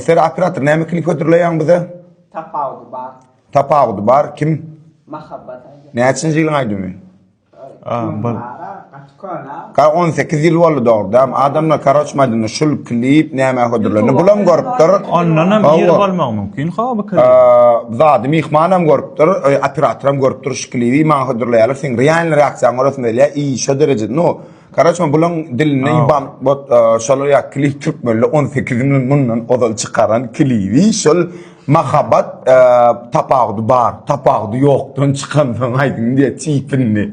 Ser operator näme klip hödürleýäň bize? Tapawudy bar. Tapawudy bar. Kim? Mahabbat aýdýar. Näçinji ýylyň aýdymy? Ka 18 ýyl boldy dogrudan. Adamlar karoç maýdanda şul klip näme hödürlendi. Bulam görüpdir. Ondan hem ýyl bolmagy mümkin. Ha bu klip. Zady myhman hem görüpdir, operatoram görüpdir. Şekilibi maňa hödürleýärler seň realny reaksiýaň görasym gelýär i şo dereje no Karaç men bulaň dilinde Au. iban bot e, şolar ýa klip türkmenli 18 milyon mundan ozal çykaran klibi şol mahabat e, tapawudy bar tapawudy ýokdan çykan soň aýdym diýe çipindi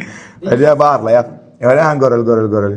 Öyle barlaýar Öyle han göreli göreli göreli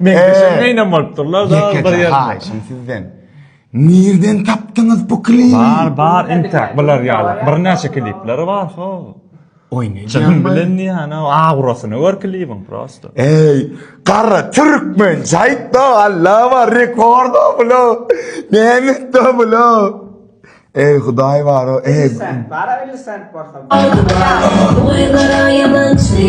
Meňzeşem meýnam bolupdyrlar da bir Ýekeje ýerde. haýyşym sizden. Nirden tapdyňyz bu klibi? Bar bar entäk bular ýaly birnäçe klipleri bar ho. Oý ne Çyn diýýäň? bilen diýýän-ä, aurasyny gör klibiň prosta. Eý, gara türkmen jaýtda allama rekorda bula. Nämetde bula. Eý hudaý baro, eý. Sen bara 50 sent borsa. Oýlara ýamançy.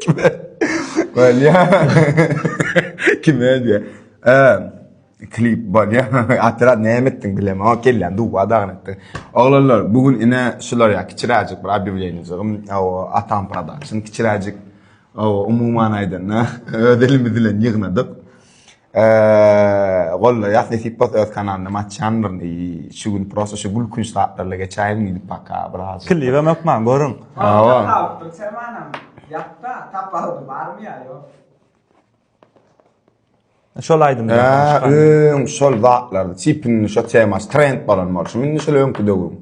Kime? Balya. Kime diýe? Eee, klip balya. Atdyra näme etdiň bilem, o kelle duwa dagyn etdi. Oglanlar, bu gün ine şular ýa kiçiräjik bir obýawleniýajygym, o Atam Production kiçiräjik. O umuman aýdanda, öz elimiz bilen ýygnadyk. Eee, gollaýas nesip bolsa öz kanalyny hem açýan bir şu gün prosta şu gülkünç zatlarla geçäýin diýip baka biraz. Klibe mökman görüň. Hawa. Tapypdyr Semanam. Ýatda tapalydy barmy ýa ýok. Şol aýdym. Eee, öň şol zatlar çipini şo temas trend bolan bolşy. Indi şol öňki döwüm.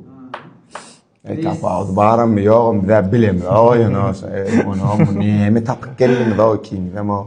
Eee, tapawdy barmy ýogam bizä bilemok. Oýun oýun. Eee, onuň näme tapyp geldiňiz o ikiniz hem o.